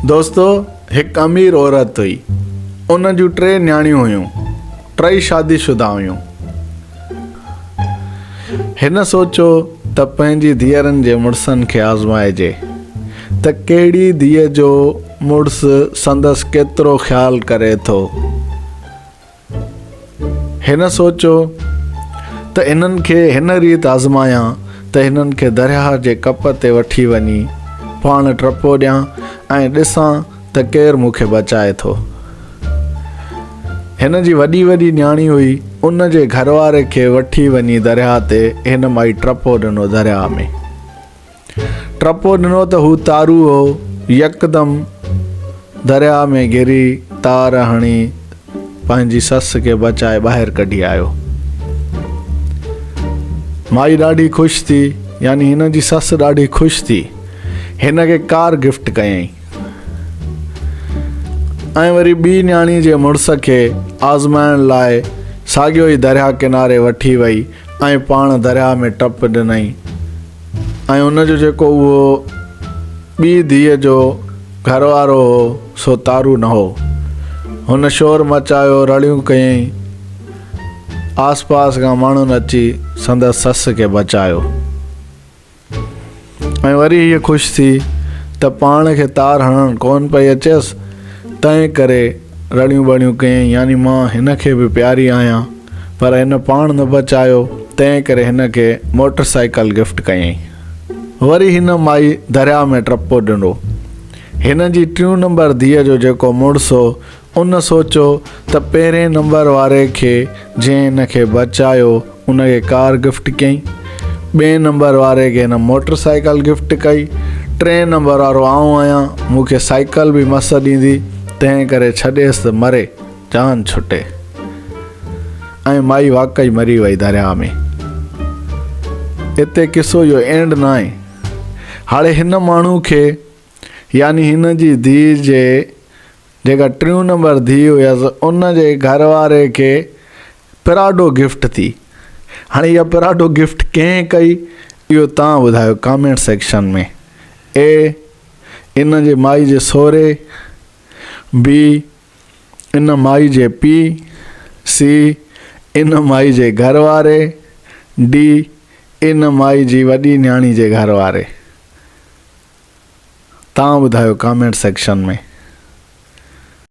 دوستو هڪ امير عورت هئي ان جون ٽي نياڻيون هيون ٽئي شادي شده هيون هن سوچيو ته پنهنجي ڌيئرن جي مڙسن کي آزمائجي ته ڪهڙي ڌيء جو مڙس سندس ڪيترو خيال ڪري ٿو هن سوچيو ته انهن کي هن ريت آزمايان ته هنن کي درياهه جي ڪپ تي وٺي وڃي پاڻ ٽپو ڏيان ۽ ڏسان ته ڪير مون کي بچائي ٿو. هن جي وڏي وڏي نياڻي هئي، ان جي گهرواري کي وٺي وڃي درياهه تي هن مائي ٽپو ڏنو درياهه ۾. ٽپو ڏنو ته هو تارو هو، يڪدم درياء ۾ ڪري تار هڻي پنهنجي سس کي بچائي ٻاهر ڪڍي آيو. مائي ڏاڍي خوش ٿي، يعني هن جي سس ڏاڍي خوش ٿي، هن کي ڪار گفٽ ڪيائين ۽ وري ٻي نياڻي جي مڙس کي آزمائڻ لاء ساڳيو ئي درياء ڪناري وٺي وئي ۽ پاڻ درياء ۾ ٽپ ڏنائين. ۽ ان جو جيڪو اهو ٻي ڌيء جو گهر وارو هو سو تارو نه هو. هن شور مچايو رڙيون ڪيائين. آس پاس کان ماڻهن اچي سندس سس کي بچايو ۽ وري هيء خوش ٿي ته پاڻ کي تار هڻڻ ڪونه پئي اچيس تنهن ڪري رڙيون ٻڙيون ڪيائين يعني مان هن کي به پياري آهيان. پر هن پاڻ نه بچايو، تنهن ڪري هن کي موٽر سائيڪل گفٽ ڪيائين. وري هن مائي درياء ۾ ٽپو ڏنو. هن جي ٽيون نمبر ڌيء جو جيڪو مڙس هو، ان سوچيو ته پهرين نمبر واري کي جنهن هن کي بچايو، ان کي ڪار گفٽ ڪيائين. ٻئين نمبر واري کي هن موٽر سائيڪل گفٽ ڪئي. ٽئين نمبر وارو آئون آهيان، مون کي سائيڪل به مس ڏيندي، تنهن ڪري ڇڏيس ته مري. جان ڇٽي ۽ مائي واقعي مري وئي درياهه ۾. اتي قصو جو اينڊ ناهي. هاڙي هن ماڻهو کي يعني هن جي ڌيء جي جيڪا ٽيون نمبر ڌيء هيس ان جي گهر واري کي پراڊو گفٽ ٿي. هاڻي اها پراڊو گفٽ ڪنهن ڪئي اهو توهان ٻڌايو ڪامينٽ سيڪشن ۾ اي ان جي مائي جي سهري، بي، ان مائي جي پيء، سي، ان مائي جي گهر واري، ڊي، ان مائي جي وڏي نياڻي جي گهر واري. توهان ٻڌايو ڪامينٽ سيڪشن ۾.